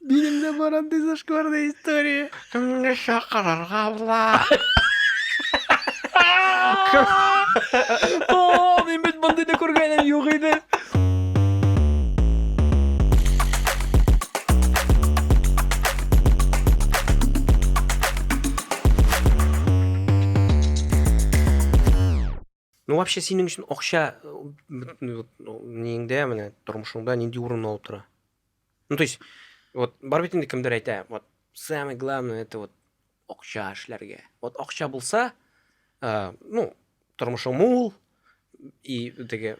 Минем дә бар андый зашкварная история. Кемне чакырырга була? О, мин бит мондый да күргәнем юк иде. Ну вообще синең өчен акча неңдә менә тормышыңда нинди урын алып тора? Ну то есть вот бар бит инде кемдер әйтә, вот самое главное это вот акча эшләргә. Вот акча булса, ну тормышың мул и теге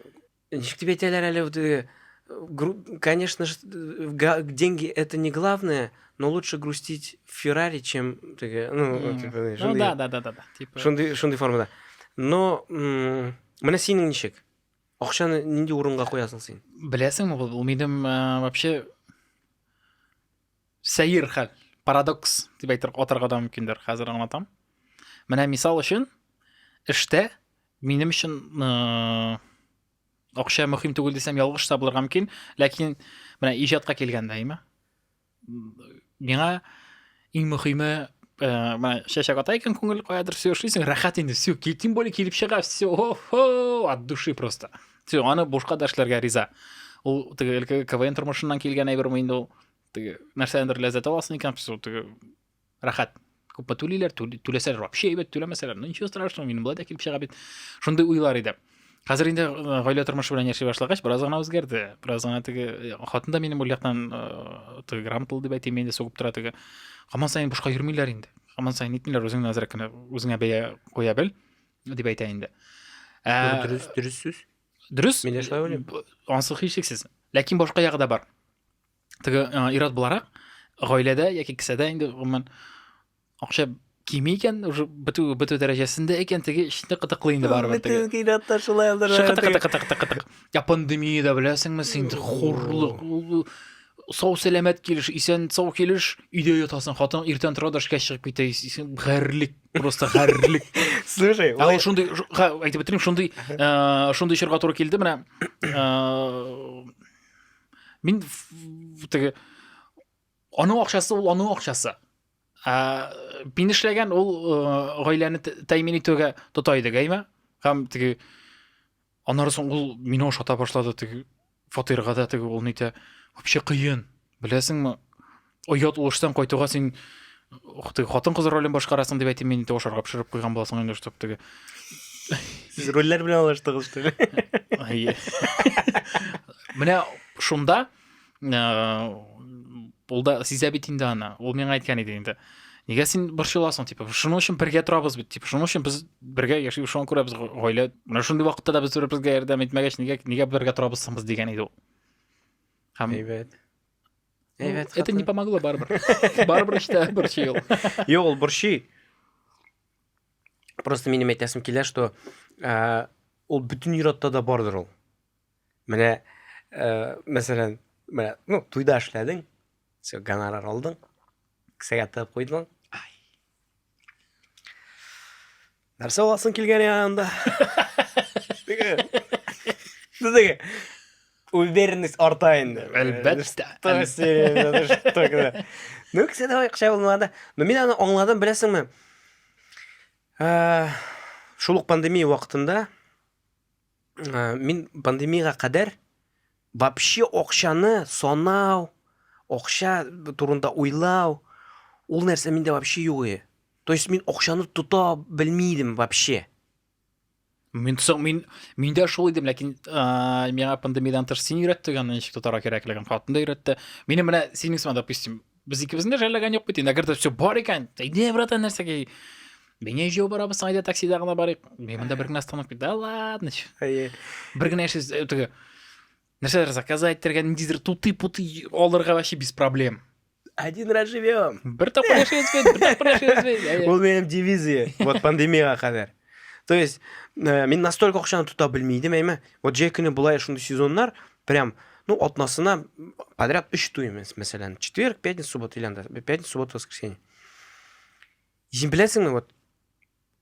Ничек дип әйтәләр әле ул теге, гру конечно ж, га деньги это не главное, но лучше грустить в Феррари, чем теге, ну, Мгм. типа, Ну шундый- да, да, да, да, да. Типа. шундый шундый формада. Но м, менә синең ничек? Акчаны нинди урынга куясың син? Беләсеңме, ул минем э, вообще сәер хәл парадокс дип әйтер атарга да мөмкиндер хәзер аңлатам менә мисал өчен эштә минем өчен э, акча мөһим түгел дисәм ялгыш та булырга мөмкин ләкин менә иҗатка килгәндә әйме миңа иң мөһиме э, менә чәчәк ата икән күңел каядыр все эшлисең рәхәт инде все тем более килеп чыга все от души просто все аны бушка да эшләргә риза ул теге квн тормышыннан килгән әйберме инде ул теге нәрсәдән бер ләззәт аласың икән все теге рәхәт күпме түлиләр түләсәләр вообще әйбәт түләмәсәләр ну ничего страшного минем былай да килеп чыга бит шундый уйлар иде хәзер инде э, гаилә тормышы белән яши башлагач бераз гына үзгәрде бераз гына теге э, хатын да минем ул яктан э, теге грамоталы дип әйтим инде сугып тора теге һаман саен бушка йөрмиләр инде һаман саен нитмиләр үзеңне әзрәк кенә үзеңә бәя куя бел дип әйтә инде ә, дөрес дөрес сүз дөрес мин дә шулай уйлыйм ансыз һичшиксез ләкин башка ягы да бар Теге ират буларак, гаиләдә яки кесәдә инде гомумән акча кими икән, уже бетү бетү дәрәҗәсендә икән, теге эшне кытыклый инде барыбер. Бетү кидатта шулай алды. Кытык-кытык-кытык-кытык. Я пандемия да беләсеңме син, хурлык. Сау сәламәт килеш, исән сау килеш, өйдә ятасың. Хатын иртән тора да эшкә чыгып китә. Исән гәрлек, просто гәрлек. Слушай, а вот шундый, әйтеп бетерим, шундый, э, шундый чорга туры килде менә. Э, мин теге аның акчасы ул аның акчасы ә, мин эшләгән ул э, гаиләне тәэмин итүгә тота идек әйме һәм теге аннары соң ул мине ошата башлады теге фатирга да теге ул нитә вообще кыен беләсеңме оят уштан кайтуга син ух ты хатын кыз ролен башкарасың дип әйтим мин инде ашарга пешереп куйган буласың инде штаб теге сез рольләр белән алыштыгыз что ли менә шунда ул да сизә бит инде аны ул миңа әйткән иде инде нигә син борчыласың типа шуның өчен бергә торабыз бит типа шуның өчен без бергә яшибез шуңа күрә без гаилә менә шундый вакытта да без бер безгә ярдәм итмәгәч нигә нигә бергә торабыз соң без дигән иде ул һәм әйбәт Ну, Әйбәт это хатын. не помогло барыбер. Барыбер эчтә борчый ул. Юк, ул борчый. Просто минем әйтәсем килә, что ә, ул бөтен ир-атта да бардыр ул. Менә, ә, мәсәлән, менә, ну, туйда эшләдең, все, гонорар алдың, кесәгә тыгып куйдың. Нәрсә аласың килгән янында? Диде. Уверенность арта инде. Әлбәттә. Ну, кесе дә акча булмады. Ну, мин аны аңладым, беләсеңме? Шул ук пандемия вакытында Э, мин пандемияга кадәр вообще акчаны санау, акча турында уйлау, ул нәрсә миндә вообще юк иде. То есть мин акчаны тота белми идем вообще. Мин соң мин миндә шул идем, ләкин ә, миңа пандемиядан тыш син өйрәттең аны ничек тотарга кирәклеген, хатын да өйрәтте. Минем менә синең сыман, допустим, Без икебезне дә жәлләгән юк бит инде. Әгәр дә все бар икән, әйдә, братан, нәрсәгә? Бәйнә җәяү барабыз, әйдә таксида гына барыйк. Мин монда бер генә остановка. Да ладно. чё. Әйе. Бер генә эшсез э, теге нәрсәләр заказать итәргә, ниндидер тутый-путый алырга вообще без проблем. Один раз живем. Бер тапкыр яшәйбез бит, бер тапкыр яшәйбез бит. Әйе. Ул минем дивизия. Вот пандемияга кадәр. То есть, ә, мин настолько акчаны тота белми идем, әйме. Вот җәй көне булай шундый сезоннар, прям, ну, атнасына подряд 3 туй, мәсәлән, четверг, пятница, суббота или анда, пятница, суббота, воскресенье. Син беләсеңме, вот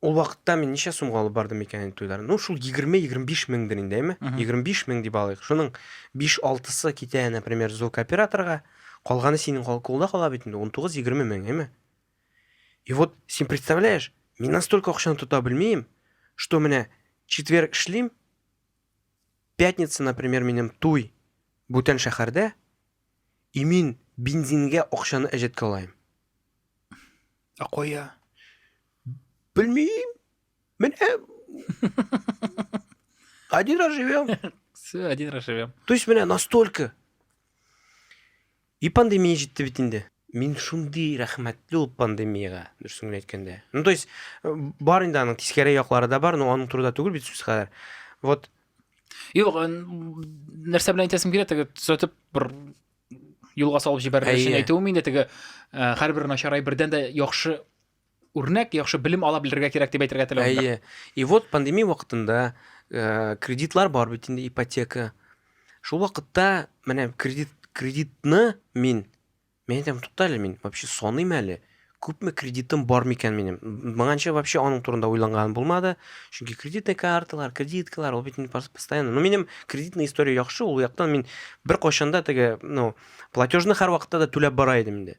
ул вакытта мин ничә сумга алып бардым икән туйлар? Ну, шул 20-25 меңдер инде, әйме. 25 мең дип алыйк. Шуның 5-6-сы китә, например, звук операторга, калганы синең кулда кала бит инде 19-20 мең, әйме. И вот, син представляешь, мин настолько акчаны тота белмим, что менә четверг эшлим, пятница, например, минем туй бүтән шәһәрдә, и мин бензинге акчаны әҗәткә алайым. А кая? Белмим. Мен один раз живем. Все, один раз живем. То есть меня настолько. И пандемия жетті бит инде. Мин шундый рәхмәтле ул пандемиягә, дөресен генә әйткәндә. Ну, то есть, э, бар инде аның тискәре яклары да бар, но аның турында түгел бит сүз хәзер. Вот. Юк, э, нәрсә белән әйтәсем килә, теге төзәтеп бер юлга салып җибәрер өчен әйтүем инде теге э, һәрбер начар әйбердән дә яхшы үрнәк, яхшы белем ала белергә кирәк дип әйтергә теләвемдер. Әйе. И вот пандемия вакытында э, кредитлар бар бит инде ипотека. Шул вакытта менә кредит кредитны мин мен әйтәм тукта әле мин вообще саныйм әле күпме кредитым бар микән минем моңанча вообще аның турында уйланган булмады чөнки кредитный карталар кредиткалар ул бит постоянно но минем кредитный история яхшы ул яктан мин бер кайчанда теге ну платежны һәр вакытта да түләп бара идем инде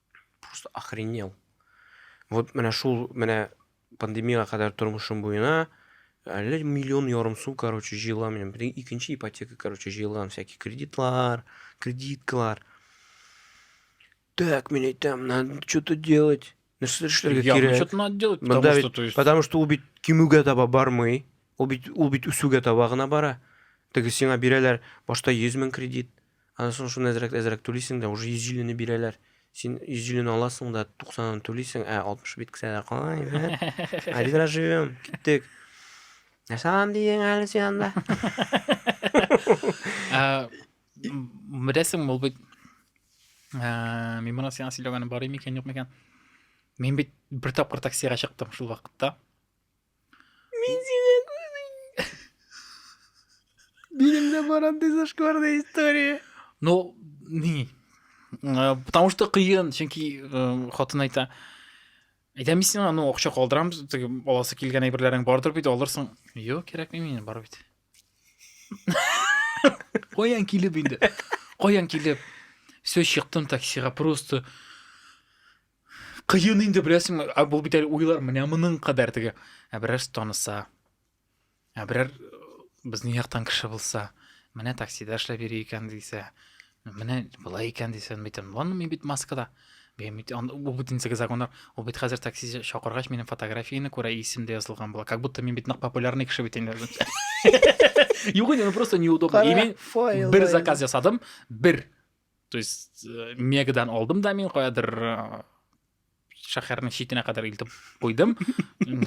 Просто охренел. Вот менә шул менә пандемияга кадәр тормышым буена әллә миллион ярым сум, короче, җыелган минем. Бер икенче ипотека, короче, җыелган всякие кредитлар, кредиткалар. Так, мин әйтәм, надо что-то делать. Нәрсә эшләргә Я, ну, кирәк? что-то надо делать, Бында потому бит- что, то есть, Потому что ул бит кимүгә таба бармый. Ул бит ул бит үсүгә таба гына бара. Теге сиңа бирәләр башта 100 мең кредит, Аннан соң шуны әзрәк әзрәк түлисең дә, уже 150 не бирәләр. Син 150 не аласың да, 90 ны түлисең, ә 60 бит кесәдә кала инде. Один раз живем, киттек. Нәрсә алам дидең әле син анда? Беләсең, ул бит мин моны сиңа сөйләгәнем бар микән, юк микән? Мин бит бер тапкыр таксига чыктым шул вакытта. Мин сине күрдем. Минем дә бар андый зашкварная история. Ну, не. Э, потому что кыен, чөнки э, хатын әйтә, әйтәм сиңа, ну, акча калдырамыз, теге аласы килгән әйберләрең бардыр бит, алырсың. Юк, кирәкми мин, бар бит. Каян килеп инде? Каян килеп? Все, чыктым таксига, просто Кыен инде беләсеңме, ә бу бит әле уйлар менә моның кадәр теге. Ә берәр таныса. Ә берәр э, безнең яктан кеше булса, менә таксида эшләп йөри икән дисә, менә болай икән дисә, мин әйтәм, ладно, мин бит маскада. Мин бит ан- бу бит инде законнар. Ул бит хәзер такси чакыргач минем фотографияне күрә, исем дә язылган була. Как будто мин бит нык популярный кеше бит инде. Юк инде, ну просто неудобно. И мин бер заказ ясадым, бер. то есть э, мегадан алдым да мин каядыр э, шәһәрнең читенә кадәр илтеп куйдым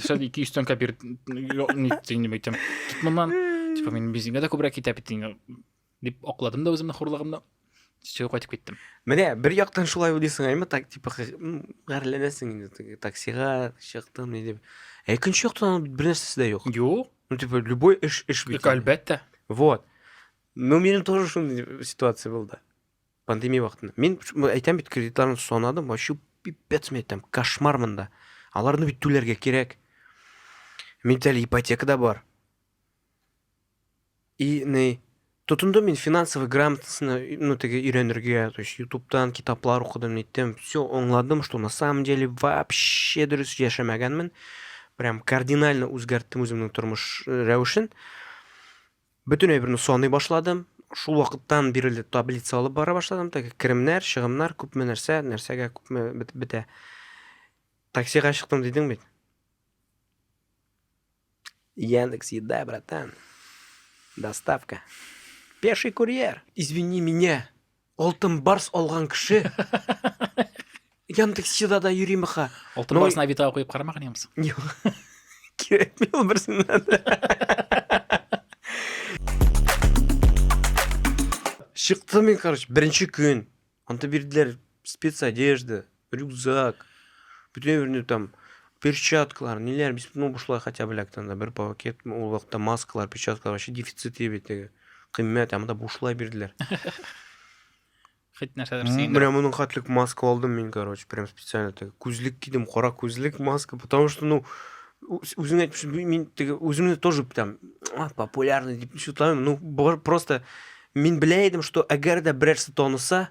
шәл ике йөз тәңкә бир нитсен әйтәм кит моннан типа мин бензинга да күбрәк китә бит дип акладым да үземнең хурлыгымны сөйгә кайтып киттем менә бер яктан шулай уйлыйсың әйме так типа гарьләнәсең инде таксига чыктым не дип ә икенче яктан бер нәрсәсе дә юк юк ну типа любой эш эш бит әлбәттә вот Ну, менің тоже шундай ситуация болды. Пандемия вакытында. Мен әйтәм бит, кредитларны санадым, вообще пипец мен әйтәм, кошмар монда. Аларны бит түләргә кирәк. Миндә ипотека да бар. И не тотындым мин финансовый грамотасына, ну, теге өйрәнергә, то есть ютубтан китаплар укыдым, ниттем, все аңладым, что на самом деле вообще дөрес яшәмәгәнмен. Прям кардинально үзгәрттем үземнең тормыш э, рәвешен. Бөтен әйберне саный башладым. Шул вакыттан бирле таблица алып бара башладым. Теге керемнәр, чыгымнар, күпме нәрсә, нәрсәгә күпме бетә. Таксига чыктым дидең бит. Яндекс еда, братан. Доставка. Пеший курьер. Извини меня. Алтын барс алган кеше Яндексчыда да йөри мыха. Алтын ну, барсына бит куеп карамаган ямс. Юк. Кирәкми ул берсеннән. Чыктым мин, короче, беренче көн. Анда бирделәр спецодежда, рюкзак, бүтән берне там перчаткалар, ниләр, без ну бушлай хотя бы лектан да бер пакет, ул вакытта маскалар, перчаткалар вообще дефицит иде бит теге. Кыйммәт, анда бушлай бирделәр. Хит нәрсәләр син. Менә моның хатлык маска алдым мин, короче, прям специально теге. Күзлек кидем, кара күзлек, маска, потому что ну үзеңә әйтмешем, мин теге үземне тоже там популярный дип шутламыйм, ну просто мин белә идем, что әгәр дә берәрсе таныса,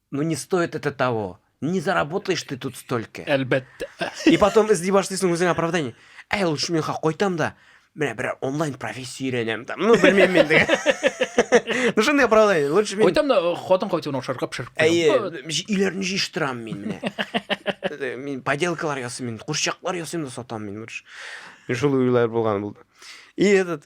Ну не стоит это того. Не заработаешь ты тут столько. Әлбәттә. И потом эзли башлыйсың үзеңә оправдание. Әй, лучше мин кайтам да, менә бер онлайн профессия өйрәнәм там. Ну, белмим мин диген. Ну, шундый оправдание. Лучше мин... Кайтам да, хатын кайтуын ошарга пешереп куям. Әйе, өйләрне җыештырам мин менә. Э, мин поделкалар ясыйм, мин курчаклар ясыйм да сатам мин лучше. Шул уйлар булган булды. И этот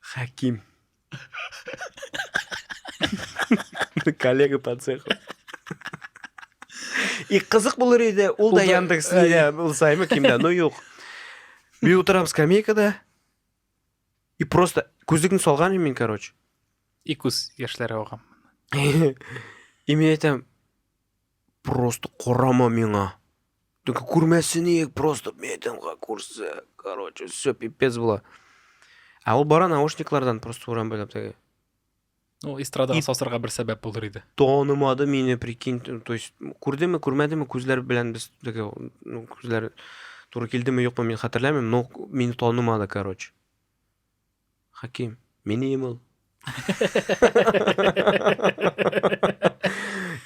Хәким. Коллега по цеху. И кызык булыр иде, ул да Яндекс Лидия булсаймы кимдә, ну юк. Бир утырам скамейкада. И просто күзлекне салган мин, короче. И күз яшьләре агам. И мин әйтәм, Просто карама миңа. Только күрмәсе ник, просто метинга күрсә. Короче, все пипец була. Ә ул бара наушниклардан просто урам буйлап теге. Ну, эстрадаға сасырға бер сәбәп булыр иде. Танымады мине, прикинь. То есть, күрдеме, күрмәдеме, күзләр белән без теге, ну, күзләр туры килдеме, юкмы, мин хәтерләмим, но мине танымады, короче. Хаким, минеем ул.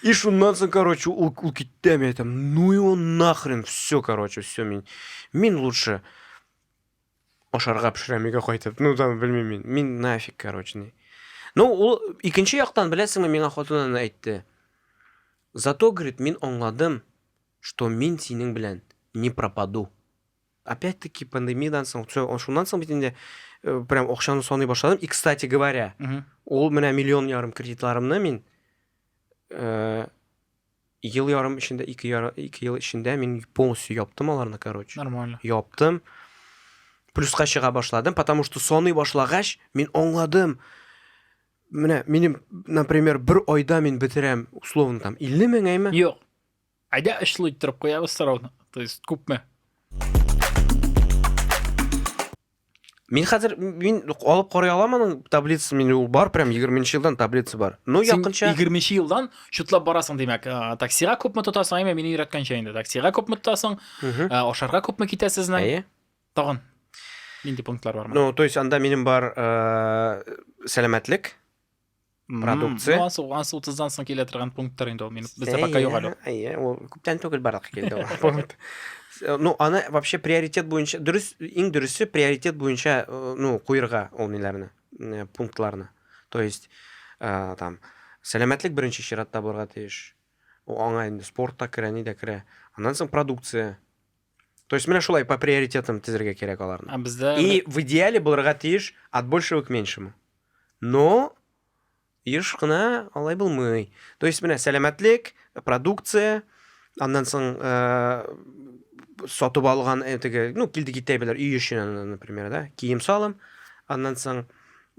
И шуннан соң, короче, ул, ул китте, мен айтам, ну его нахрен, все, короче, все, мен, мен лучше ашарга пешерәм өйгә кайтып, ну там, белмим мен, нафиг, короче, не. Ну, ул икенче яктан, беләсеңме, миңа хатынын әйтте. Зато, говорит, мен аңладым, что мен синең белән не пропаду. Опять таки пандемиядан соң, шуннан соң бит инде э, прям акчаны саный башладым. И, кстати говоря, ул менә миллион ярым кредитларымны мин э, ел ярым эчендә, ике, яр, ике ел эчендә мин полностью яптым аларны, короче. Нормально. Яптым. Плюска чыга башладым, потому что саный башлагач, мин аңладым. Менә минем, например, бер айда мин бетерәм, условно, там, 50 меңәйме? Юк. Әйдә очлы иттереп куябыз сорауны. То есть күпме? Мин хәзер мин алып карый алам аның таблицасын, мин ул бар прям 20 елдан таблица бар. Ну якынча 20 елдан шутлап барасың димәк. Таксига күпме тотасың? Әйме, мине өйрәткәнчә инде. Таксига күпме тотасың? Ашарга күпме китәсезне? Әйе. Тагын. Нинди пунктлар бар? Ну, то есть анда минем бар сәламәтлек, продукция. Ну, асыл, асыл тыздан соң килә торган пункттар инде ул. Мин бездә пока юк әле. Әйе, ул күптән түгел барлыкка килде ул пункт. Э, ну, аны вообще приоритет буенча, дөрес, иң дөресе приоритет буенча, э, ну, куерга ул ниләрне, э, пунктларны. То есть, ә, там, сәламәтлек беренче чиратта булырга тиеш. Аңа инде спорт та керә, ни дә керә. Аннан соң продукция. То есть менә шулай по приоритетам тезергә кирәк аларны. А бездә И в идеале булырга тиеш от большего к меньшему. Но еш кына алай булмый. То есть менә сәламәтлек, продукция, аннан соң э, сатып алган этеге, ну, килде китәбеләр өй өчен, например, да, кием салым, аннан соң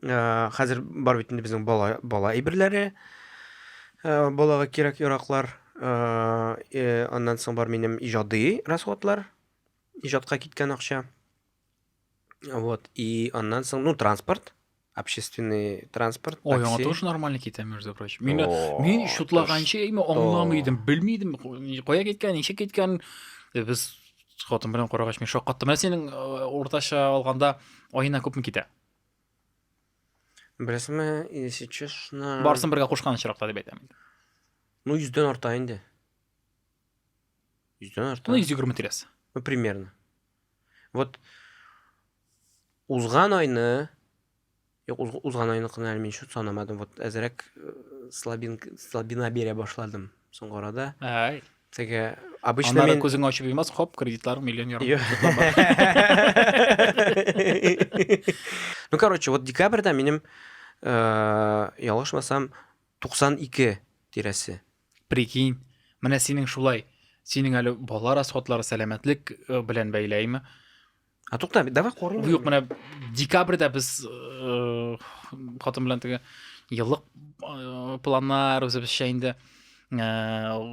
Э, хәзер бар бит инде безнең бала бала әйберләре. Э, балага кирәк яраклар. Э, э, аннан соң бар минем иҗади расходлар. Иҗатка киткән акча. Вот, и аннан соң, ну, транспорт, общественный транспорт, Ой, аңа такси. тоже нормально китә, между прочим. Мин, О, мин ты шутлаганчы, әйме, что? аңламыйдым, белмидем, ку- кая киткән, ничек киткән. Э, Без хатын белән карагач, мин шаккаттым. Ә синең э, уртача алганда аена күпме китә? Беләсеңме, если честно... Барсын бергә кушкан очракта дип әйтәм. Ну, йөздән арта инде. Йөздән арта. Ну, йөз егерме тирәсе. Ну, примерно. Вот, узган айны, Юк, уз, узган айны кына әле мин шут санамадым. Вот әзрәк э, слабин, слабина бирә башладым соңгы арада. Ай. Теге обычно Аннары күзең ачып йомас, хоп, кредитлар миллион ярым. Ну, короче, вот декабрьда минем, э, ялгышмасам, 92 тирәсе. Прикинь, менә синең шулай, синең әле бала расходлары сәламәтлек э, белән бәйләйме? А тукта, давай корылмый. Юк, менә декабрьдә без э, хатын белән теге еллык э, планнар үзебезчә инде э,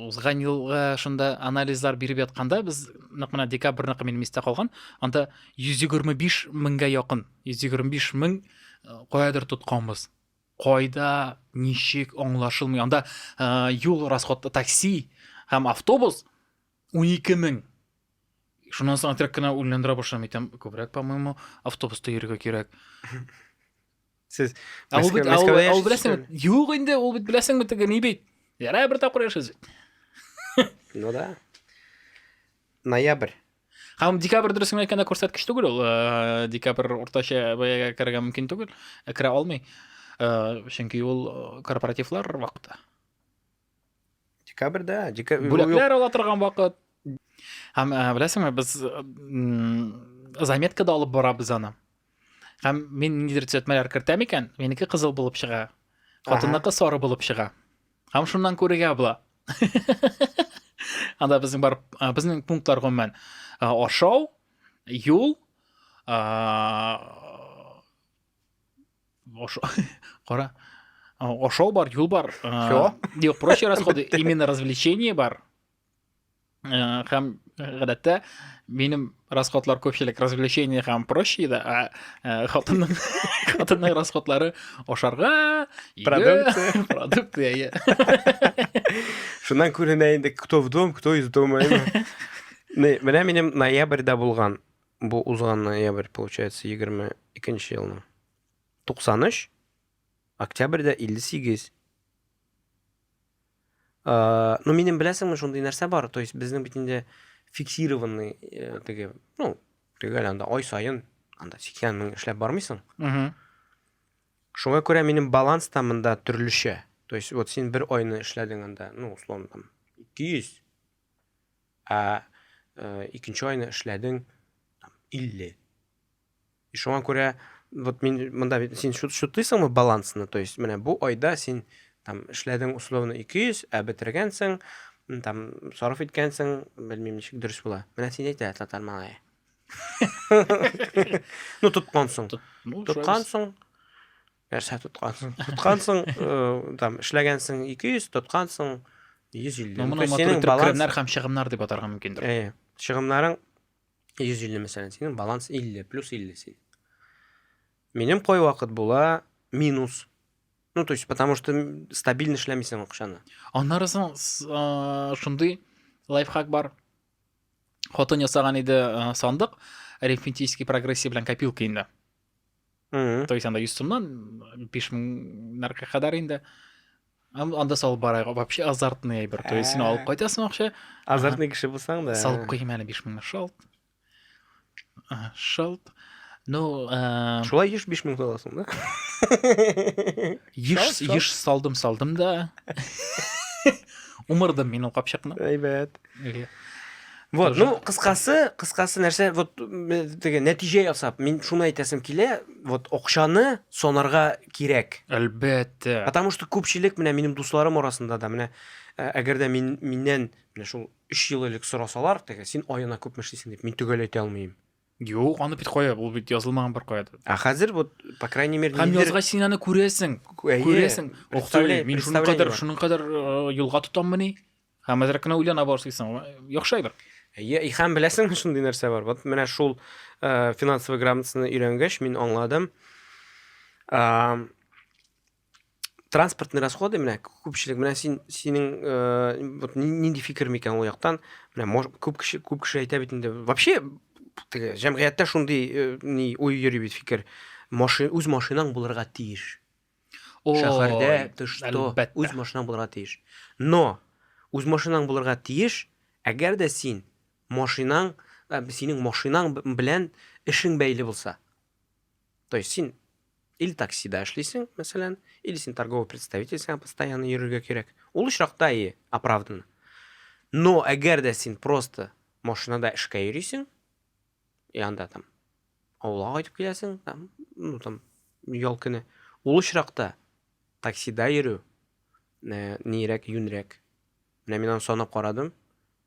узган елга шунда анализлар биреп ятканда без нәкъ менә декабрьныкы минем истә калган. Анда 125 меңгә якын, 125 мең каядыр тотканбыз. Кайда, ничек аңлашылмый. Анда юл расходы такси һәм автобус 12 мең Шуннан соң отряд кына үлләндерә башлам итәм. Күбрәк, по-моему, автобуста йөрергә кирәк. Сез Ә ул бит, ул, ул беләсең, юк инде, ул бит беләсең бит, ни бит. Ярай бер тапкыр яшәс бит. Ну да. Ноябрь. Һәм декабрь дөресен әйткәндә күрсәткеч түгел ул. Э, декабрь уртача бәягә керергә мөмкин түгел, керә алмый. Э, чөнки ул э, корпоративлар вакыты. Декабрьдә, декабрь. Бүләкләр ала торган вакыт. Һәм э, беләсеңме, без заметкада алып барабыз аны. Һәм мин ниндидер төзәтмәләр кертәм икән, минеке кызыл булып чыга. Хатынныкы сары булып чыга. Һәм шуннан күрергә була. Анда безнең бар, э, безнең пунктлар гомумән э, ашау, юл, Ошо... Кара. Ошол бар, юл бар. Чего? Юк, проще расходы. Именно развлечение бар. Һәм гадәттә минем расходлар көпчелек развлечение һәм проще да, а э, хатынның хатынның расходлары ашарга, продукты, продукты, әйе. Шуннан күренә инде, кто в дом, кто из дома. Менә минем ноябрьдә булган Бу узган ноябрь, получается, 22 нче елның. 93, октябрьдә 58. Э, ну, минем беләсеңме, шундый нәрсә бар, то есть безнең бит инде фиксированный э, теге, ну, төгәл анда ай саен анда 80 мең эшләп бармыйсың. Угу. Шуңа күрә минем баланс та монда төрлечә. То есть вот син бер айны эшләдең анда, ну, условно там 200, Ә э, икенче айны эшләдең 50. И шуңа күрә вот мин монда син шутыйсыңмы балансны? То есть менә бу айда син там эшләдең условно 200, ә бетергәнсең, там сарыф иткәнсең, белмим ничек дөрес була. Менә син әйтә татар малае. Ну тоткансың. Тоткансың. Нәрсә тоткансың? Тоткансың, э, там эшләгәнсең 200, тоткансың 150. Ну, моны матур итеп керемнәр һәм чыгымнар дип атарга мөмкиндер. Әйе. Чыгымнарың 150 мәсәлән, синең баланс 50 плюс 50 син. Минем кой вакыт була минус. Ну, то есть, потому что стабильно эшләмисең акчаны. Аннары соң шундый лайфхак бар. Хатын ясаган иде сандык арифметический прогрессия белән копилка инде. то есть анда йөз сумнан биш меңнәргә кадәр инде анда салып барайық вообще азартный әйбер то есть сен алып кайтасың акча азартный кеше булсаң да салып куймын әле биш меңнәр шалт шалт ну шулай еш биш мең саласың да Еш, еш салдым, салдым да. Умырдым мин ул капчыкны. Әйбәт. Вот, ну, кыскасы, кыскасы нәрсә, вот, теге нәтиҗә ясап, мин шуны әйтәсем килә, вот, акчаны сонарга кирәк. Әлбәттә. Потому что күпчелек менә минем дусларым арасында да менә ә, әгәр дә мин миннән менә шул 3 ел элек сорасалар, теге син аена күпме эшлисең дип, мин төгәл әйтә алмыйм. Юк, аны бит кая, ул бит язылмаган бер кая. Ә хәзер вот, по крайней мере, Һәм язга син аны күрәсең, күрәсең. Охтый, мин шуның кадәр, шуның кадәр э, юлга тотаммы ни? Һәм әзрәк кенә уйлана башлыйсың. Яхшы әйбер. Әйе, и һәм беләсең шундый нәрсә бар. Вот менә шул э, финансовый грамотасыны өйрәнгәч, мин аңладым. Э, транспортный расходы менә күпчелек менә син синең э, нинди фикер микән ул яктан менә мож, күп кеше күп кеше әйтә бит инде вообще теге җәмгыятьтә шундый э, ни уй йөри бит фикер машин үз машинаң булырга тиеш шәһәрдә ты что үз машинаң булырга тиеш но үз машинаң булырга тиеш әгәр дә син машинаң э, синең машинаң белән эшең бәйле булса То есть син или таксида эшлисең, мәсәлән, или син торговый представитель, сиңа постоянно йөрергә кирәк. Ул очракта и оправданно. Но әгәр дә син просто машинада эшкә йөрисең, и анда там авылга кайтып киләсең, там, ну там ял көне. Ул очракта таксида йөрү э, нирәк, юнрәк. Менә мин аны санап карадым.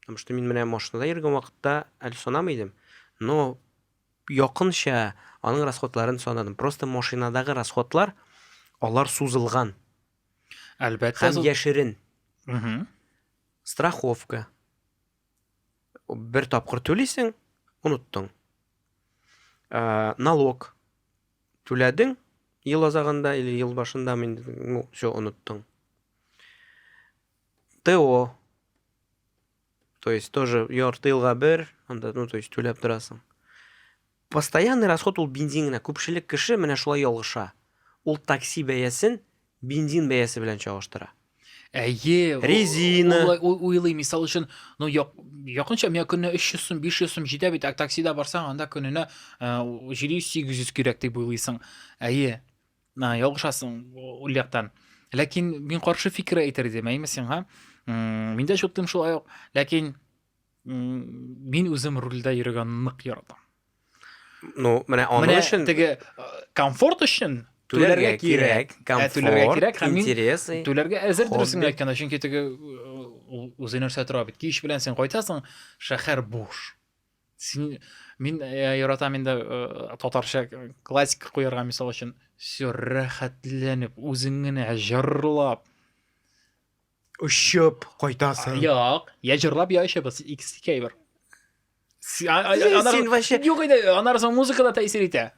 Потому что мин менә машинада йөргән вакытта әле санамый идем. Но Якынча аның расходларын санадым. Просто машинадагы расходлар, алар сузылган. Әлбәттә. Һәм яшерен. Страховка. Бер тапкыр түлисең, оныттың. Э, налог түләдең ел азагында или ел башында мин ну все оныттың то То есть тоже ярты елга бер, анда, ну, то есть түләп торасың. Постоянный расход ул бензин генә. Күпчелек кеше менә шулай ялгыша. Ул такси бәясен бензин бәясе белән чагыштыра. Әйе. Резина. Уйлый, мисал өчен, ну, якынча миңа көненә 300 сум, 500 сум җитә бит, ә таксида барсаң, анда көненә 700-800 кирәк дип уйлыйсың. Әйе. На, ялгышасың у- ул яктан. Ләкин мин каршы фикер әйтер идем, әйме сиңа. М, Мин дә чуттым шулай ук, ләкин м, мин үзем рульдә йөргән нык яратам. Ну, менә аның Менә өчен теге э, комфорт өчен түләргә түләргә кирәк, Ә, комфорт, түләргә кирәк, һәм мин интерес. и- түләргә әзер дөресен Хобби. әйткәндә, чөнки теге э, ул үзе нәрсә тора бит. Кич белән син кайтасың, шәһәр буш. син мин э, яратам инде э, татарча э, классика куярга мисал өчен все рәхәтләнеп үзең генә җырлап очып кайтасың юк я җырлап я очып икесе икәй бер син вообще юк инде аннары соң музыка да тәэсир итә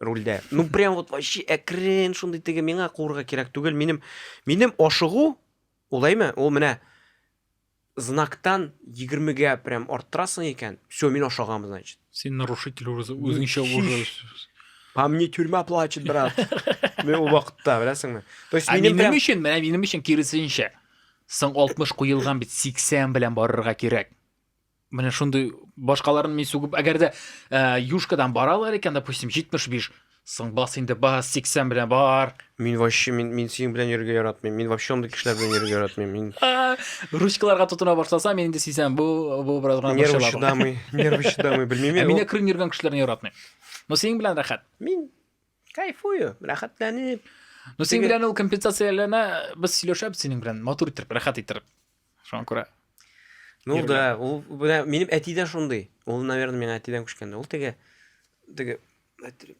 рульдә. Ну прям вот вообще әкрен шундый теге миңа куырга кирәк түгел. Минем минем ашыгу улаймы? Ул менә знактан 20-гә прям арттырасың икән. Все, мин ашагам, значит. Син нарушитель уже үзеңчә уже. По мне тюрьма плачет, брат. Мен ул вакытта, беләсеңме? То есть минем прям өчен, менә минем өчен киресенчә. Соң 60 куелган бит 80 белән барырга кирәк. Менә шундый башкаларын мин сугып, әгәр дә э, юшкадан баралар икән, допустим, 75, соң бас инде бас, 80 белән бар. Мин вообще, мин, мин синең белән йөрергә яратмыйм. Мин вообще андый кешеләр белән йөрергә яратмыйм. Мин А, Ручкаларга тотына башласа, мин инде сизәм, бу бу бераз гына нервы борчыла бу. чыдамый, нервы чыдамый, белмим Ә мин. мине крын йөргән кешеләрне яратмыйм. Но синең белән рәхәт. Мин кайфую, рәхәтләнеп. Но синең Теге- белән ул компенсацияләрне без сөйләшәбез синең белән, матур иттереп, рәхәт иттереп. Шуңа күрә Ну Иргә. да, ул менә минем әти дә шундый. Ул, наверное, миңа әтидән күчкәндә. Ул теге теге әйтер.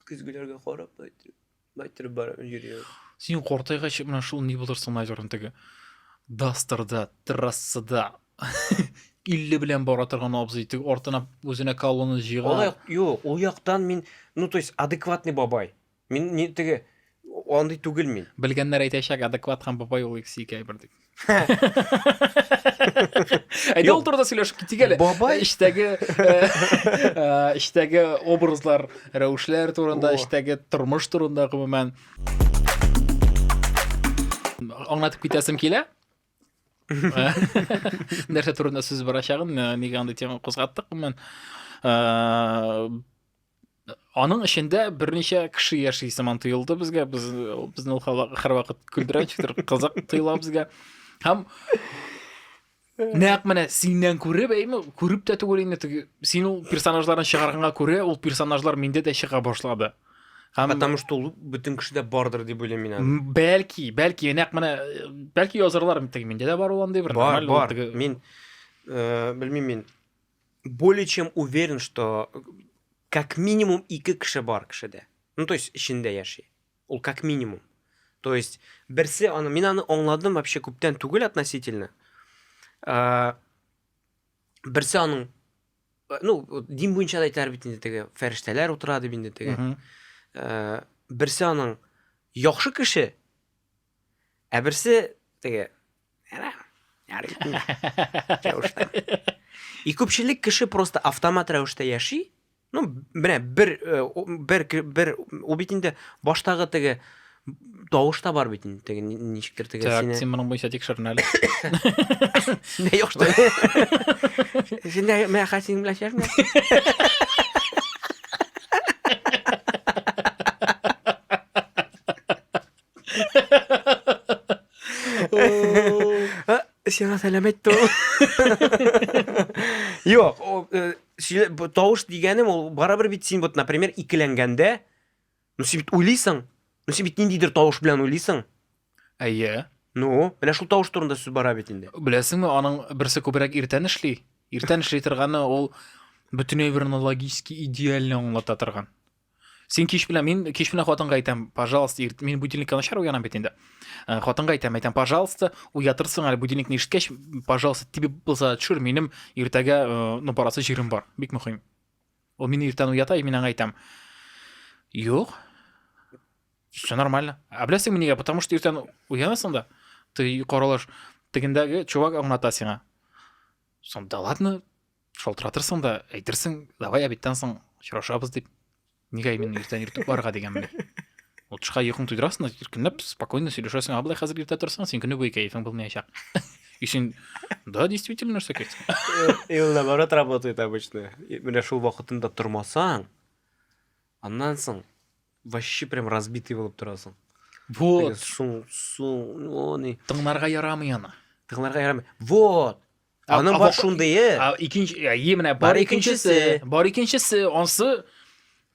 Көзгеләргә карап, әйтер. Әйтер бар йөри. Син кортайгач менә шул ни булырсың, наверное, теге дастерда, трассада 50 белән бара торган абзый тек артына үзенә колонна җыйган. Ул юк, ул яктан мин, ну то есть адекватный бабай. Мин ни теге андый түгел мин. Белгәннәр әйтәчәк, адекват һәм бабай ул икесе ике әйбер дип. Әйдә ул турыда сөйләшеп китик әле. Бабай эчтәге эчтәге э, э, образлар, рәвешләр турында, эчтәге тормыш турында гомумән. Аңлатып китәсем килә. Нәрсә турында сүз барачагын, э, нигә андый тема кузгаттык, гомумән. Аның эчендә берничә кеше яши сыман тоелды безгә. Без безне һәрвакыт көлдерә, читер кызык тоела безгә. Һәм Нәкъ менә синнән күреп, әйме, күреп тә түгел инде теге. Син ул персонажларны чыгарганга күрә, ул персонажлар миндә дә чыга башлады. Һәм потому что ул бөтен кешедә бардыр дип уйлыйм мин аны. Бәлки, бәлки нәкъ менә бәлки язарлар теге миндә дә бар ул андый бер нормаль бар. Мин э, белмим мин более чем уверен, что э, как минимум ике кеше бар кешедә. Ну, то есть эчендә яши. Ул как минимум. То есть берсе аны, мин аны аңладым вообще күптән түгел относительно. Э, берсе аның э, ну, дин буенча да әйтәләр бит инде теге фәрештәләр утыра дип инде теге. Берсе аның яхшы кеше, Ә берсе теге И күпчелек кеше просто автомат рәвештә яши. Ну, менә бер э, бер бер ул бит инде баштагы теге тавыш та бар бит инде теге ничектер теге сине. Так, син моның буенча тикшерен әле. Не юк что. Син дә менә хәсин белән яшәмә. Сиңа сәлам әйтте ул. Юк, э, тавыш дигәнем ул барыбер бит син вот, например, икеләнгәндә, ну син бит уйлыйсың. Ну син бит ниндидер тавыш белән уйлыйсың. Әйе. Ну, менә шул тавыш турында сүз бара бит инде. Беләсеңме, аның берсе күбрәк иртән эшли. Иртән эшли торганы ул бөтенләй бер аналогически идеально аңлата торган. сен кеш белән мин кеш белән хатынга әйтәм пожалуйста ирт мин будильникка начар уянам бит инде э, хатынга әйтәм әйтәм пожалуйста уятырсың әле будильникны ишеткәч пожалуйста тибеп булса төшер минем иртәгә э, ну барасы җирем бар бик мөһим ул мине иртән уята мин аңа әйтәм юк все нормально а беләсеңме нигә потому что иртән уянасың да ты каралаш тегендәге чувак аңлата сиңа сонда ладно Шалтыратырсың да, әйтерсең, давай обедтан соң очрашабыз дип. Нигә именно иртән йөртеп барырга дигәнмен. Утышка йокың туйдырасың, иркенләп, спокойно сөйләшәсең. А былай хәзер иртә торсаң, син көне буе кәефең булмаячак. И син, да, действительно, нәрсә кит. И ул наоборот работает обычно. Менә шул вакытында тормасаң, аннан соң вообще прям разбитый булып торасың. Вот. Шул, шул, они. Тыңларга ярамый аны. Тыңларга ярамый. Вот. Аның бар шундые. Икенче, е менә бар икенчесе, бар икенчесе, ансы,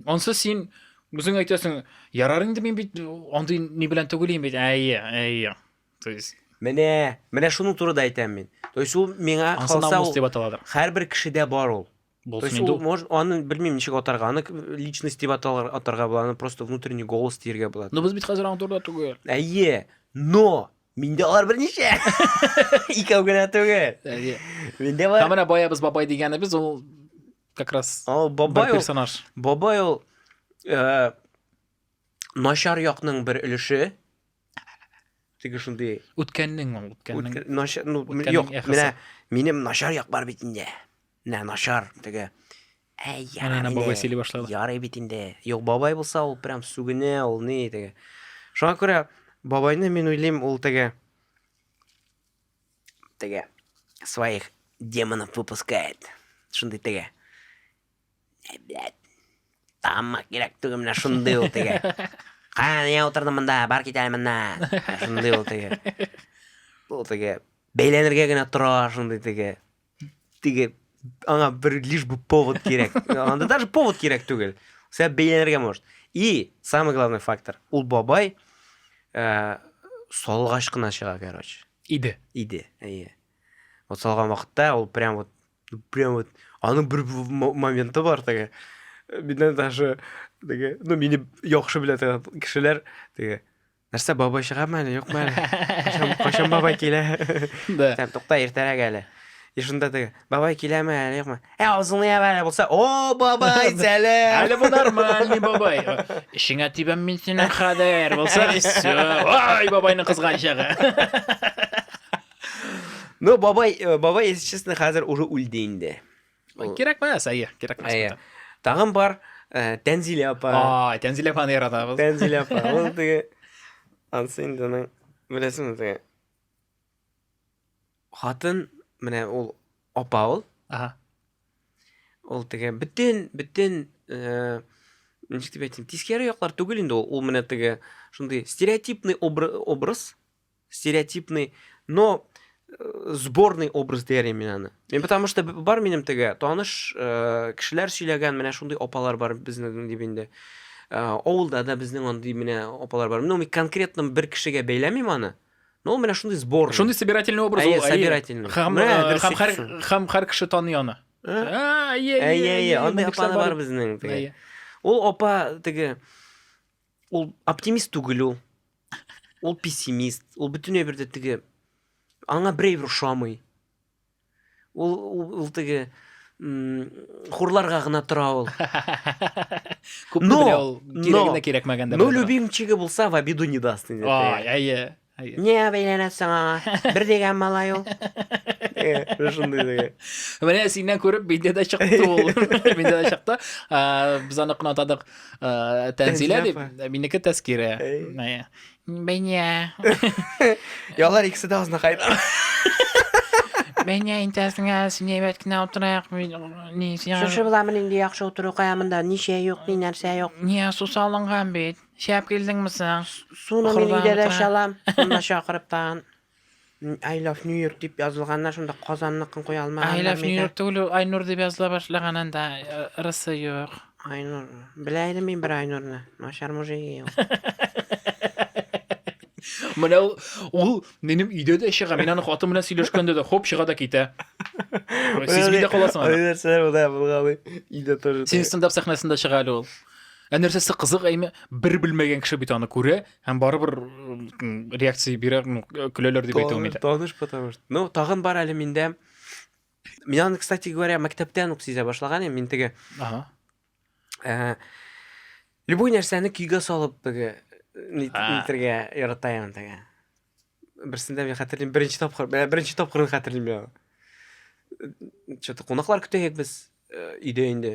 ансы син үзең әйтәсең, ярар инде мин бит андый ни белән түгелим бит. Әйе, әйе. То есть Менә, менә шуның турыда әйтәм мин. То есть ул миңа калса, һәрбер кешедә бар ул. То есть ул может, аны белмим ничек атарга, аны личность дип аталар атарга була, аны просто внутренний голос диергә була. Но без бит хәзер аңа турыда түгел. Әйе, но миндә алар берничә. Икәү генә түгел. Әйе. Миндә бар. Һәм баябыз бабай дигәнебез ул как раз О, бабай ул персонаж. Бабай ул э, начар якның бер өлеше. Теге шундый. Үткәннең ул, үткәннең. Начар, ну, юк, менә минем начар як бар бит инде. Нә, начар, теге. Әй, яра Әнә бабай сөйли башлады. Ярый бит инде. Юк, бабай булса, ул прям сүгенә, ул ни, теге. Шуңа күрә бабайны мин уйлыйм, ул теге. Теге. Своих демонов выпускает. Шундый теге. Әй, блядь. Тамма кирәк түгел менә шундый ул теге. Кая не утырдым монда, бар кит әле моннан. Шундый ул теге. Ул теге. Бәйләнергә генә тора, шундый теге. теге аңа бер лишь бы повод кирәк анда даже повод кирәк түгел сәбәп бәйләнергә может и самый главный фактор ул бабай ә, салгач кына чыга короче иде иде әйе вот салган вакытта ул прям вот прям вот аның бер моменты бар теге миннән даже теге ну мине яхшы белә торган кешеләр теге Нәрсә, бабай чыгамы әле, юкмы әле? Кайчан, кайчан бабай килә? Да. Сәм, тукта, иртәрәк әле. И шунда теге, бабай киләме әле, юкмы? Ә, авызыңны ябар әле булса, о, бабай, сәлам! Әле бу нормальный бабай. Эшеңә тибәм мин синең хәзер. Булса, все. Ай, бабайның кызган чагы. Ну, бабай, э, бабай, если честно, хәзер уже үлде инде. кирәкмә сәйя кирәкмәс әйе тагын бар ә, тәнзилә апа а тәнзилә апаны яратабыз тәнзилә апа ул теге анысы инде аның беләсеңме теге хатын менә ул апа ул ага ул теге бөтен бөтен ә, ничек дип әйтсәм тискәре яклар түгел инде ул ул менә теге шундый стереотипный образ стереотипный но э, сборный образ дияр мин аны мен потому что бар минем теге таныш э, кешеләр сөйләгән менә шундый апалар бар безнең дип инде э, авылда да безнең андый менә апалар бар ну мин конкретно бер кешегә бәйләмим аны но ул менә шундый сбор шундый собирательный образ ул собирательный һәм һәм һәр кеше таный аны әйе әйе андый апалар бар безнең ул апа теге Ул оптимист түгел ул. Ул пессимист. Ул бөтенләй бер дә теге аңа берәйбер ошамый. Ул ул теге хурларга гына тора ул. Күп но, белә ул, кирәгенә кирәкмәгәндә. Но любимчиге булса, в обиду не даст. Ай, әйе. Нигә бәйләнәсең аңа? Бер дигән малай ул. Менә шундый диген. Менә синнән күреп миндә дә чыкты ул. Миндә дә чыкты. Без аны кынатадык. Тәнзилә дип, минеке Тәскирә. Бәйнә. Ялар икесе дә азна кайда. Бәйнә интәсеңә син әйбәт кенә утырыйк. Шушы буламы нинди яхшы утыру кая монда? Ничә юк, ни нәрсә юк. Ния сусалынган бит. Чәп килдеңме соң? Суны мин өйдә дә чалам. Монда чакырып тагын I love New York дип язылганнар, шунда Казанныкын куя алмаганнар. I love New York түгел, Айнур дип языла башлаган анда, э, ырысы юк. Айнур. Белә идем мин бер Айнурны. Начар мужик ул. Менә ул, ул минем өйдә дә чыга. Мин аны хатын белән сөйләшкәндә дә хоп чыга да китә. Сизми дә каласың аны. Нәрсә, ул да булгалый. Өйдә тоже. Син стендап сәхнәсендә чыга әле ул. Ә нәрсәсе кызык әйме, бер белмәгән кеше бит аны күрә һәм барыбер реакция бирә, көләләр дип әйтә алмыйм. Таныш потому что. Ну, тагын бар әле миндә. Мин аны, кстати говоря, мәктәптән үк сизә башлаган идем, мин теге. Ага. Э, любой нәрсәне көйгә салып теге нитергә ярата ям теге. Берсендә мин хәтерлим, беренче тапкыр, беренче тапкырын хәтерлим я. Что-то кунаклар көтәек без э, өйдә инде.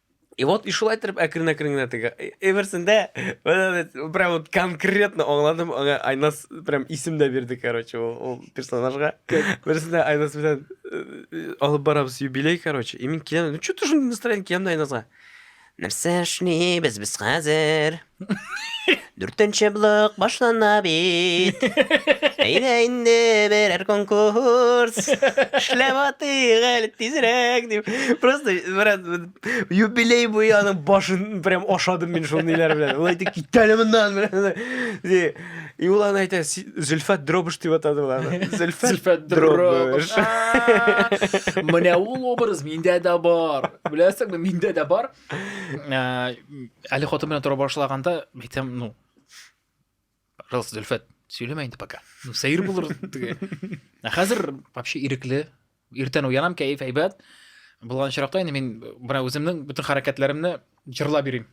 И вот, и шулай итеп әкрен-әкрен генә теге Эверсендә прям вот конкретно аңладым, аңа Айнас прям исем дә бирде, короче, ул, ул персонажга. Берсендә Айнас белән э, алып барабыз юбилей, короче. И мин киләм, ну что ты шундый настроение киләм да Айнасга. Нәрсә эшлибез без хәзер? Дүртенче блок башлана бит. Әйдә инде берәр конкурс. Эшләп атыйк әле тизрәк дип. Просто брат, юбилей буе аның башын прям ашадым мин шул ниләр белән. Ул әйтте, кит әле моннан. Ди. И ул аны әйтә, «Си- Зөлфәт Дробыш дип атады ул аны. Зөлфәт Зөлфәт Дробыш. Дробыш. Менә ул образ миндә дә бар. Беләсеңме, миндә дә бар. Ә, әле хатын белән тора башлаганда әйтсәм ну пожалуйста зөлфәт сөйләмә инде пока ну сәер булыр теге ә хәзер вообще ирекле иртән уянам кәеф әйбәт булган очракта инде мин бына үземнең бөтен хәрәкәтләремне җырлап йөрим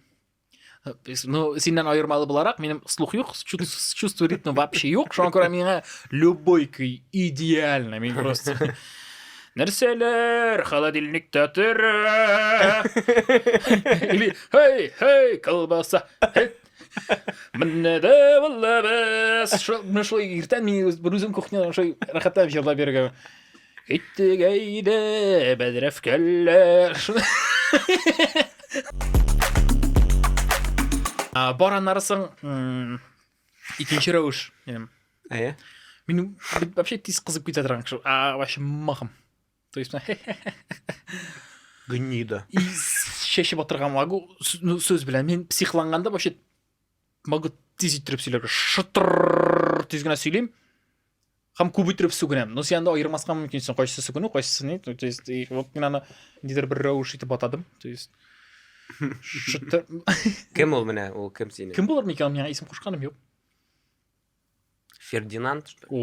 Ну, синнән аермалы буларак, минем слух юк, чувство ритма вообще юк. Шуңа күрә миңа любой көй идеально. Мин просто Нәрсәләр холодильникта тора? Или хей, хей, колбаса. Менә дә валлабыз. Шул шулай иртән мин үзем кухняда шулай рәхәтләнеп җырлап йөргән. Киттек әйдә, бәдрәфкәлләр. А, Бар аннарысың м, икенче рәвеш. Минем. Әйе. Мин бит вообще тиз кызып китә торган кеше. А, вообще махым. То есть, Гнида. и чәчеп атырга могу. С- ну, Сүз белән. Мин психланганда вообще могу тиз иттереп сөйләргә шытыр тиз генә сөйлим һәм күп иттереп сүгенәм но син анда аермаска мөмкинсең кайсысы сүгенү кайсысы ни то есть вот мин аны нидер бер рәвеш итеп атадым то есть шытыр кем ул менә ул кем синең кем булыр микән миңа исем кушканым юк фердинанд что ли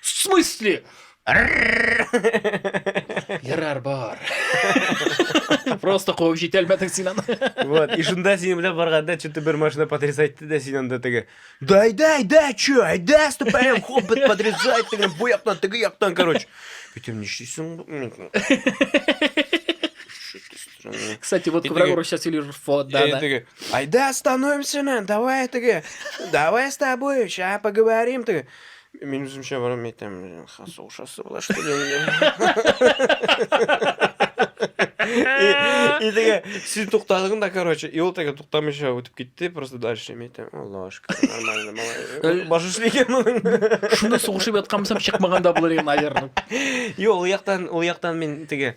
В смысле? Ярар бар. Просто куып җитәлмәдең син аны. Вот, и шунда синең белән барганда что-то бер машина подрезайтты да син анда теге. Да айда, айда, чё, айда, ступаем, хоп, бит подрезать, теге бу яктан, теге яктан, короче. Битем нишлисең? Кстати, вот когда Гуру сейчас или вот, да, да. Айда, остановимся, давай, теге. Давай с тобой, сейчас поговорим, ты. Мин үземчә барам әйтәм, хас ошасы була что ли? И теге син туктадың да, короче, и ул теге туктамыйча үтеп китте, просто дальше мин әйтәм, Алла ашка, нормально, малай. Баш эшли икән моның. Шуны сугышып яткан булсам, чыкмаганда булыр иде, наверное. Юк, ул яктан, ул яктан мин теге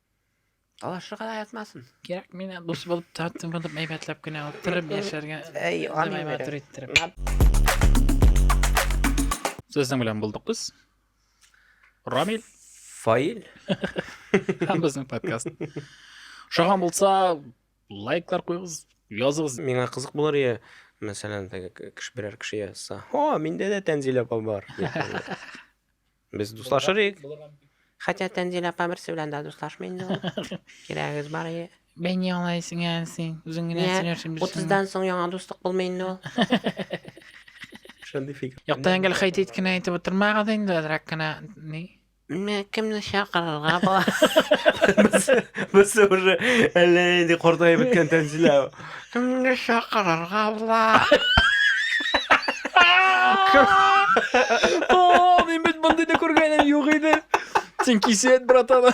Талашырга да ятмасын. Кирәк мина дус булып татты булып әйбәтләп кенә утырып яшәргә. Әй, аны матур иттереп. Сезнең белән булдык без. Рамил. Фаил. Һәм безнең подкаст. Шагам булса, лайклар куйгыз, языгыз. Миңа кызык булыр я, мәсәлән, теге кеше берәр кеше язса. О, миндә дә Тәнзилә апа бар. Без дуслашыр идек. Хәтта Тәнзилә апа берсе белән дә дуслашмый инде ул. Кирәгегез бар ие. Бәйни алай сиңа син. Үзең генә Йә, сөйләрсең бирсең. 30-дан соң яңа дуслык булмый инде ул. Шундый фикер. Якта әңгәл хәйт ит кенә әйтеп утырмагыз инде, әзрәк кенә ни. Менә кемне чакырырга була? Без без уже әллә нинди картаеп беткән Тәнзилә. Кемне чакырырга була? О, мин бит мондый да күргәнем юк иде. Син кисәт, братан.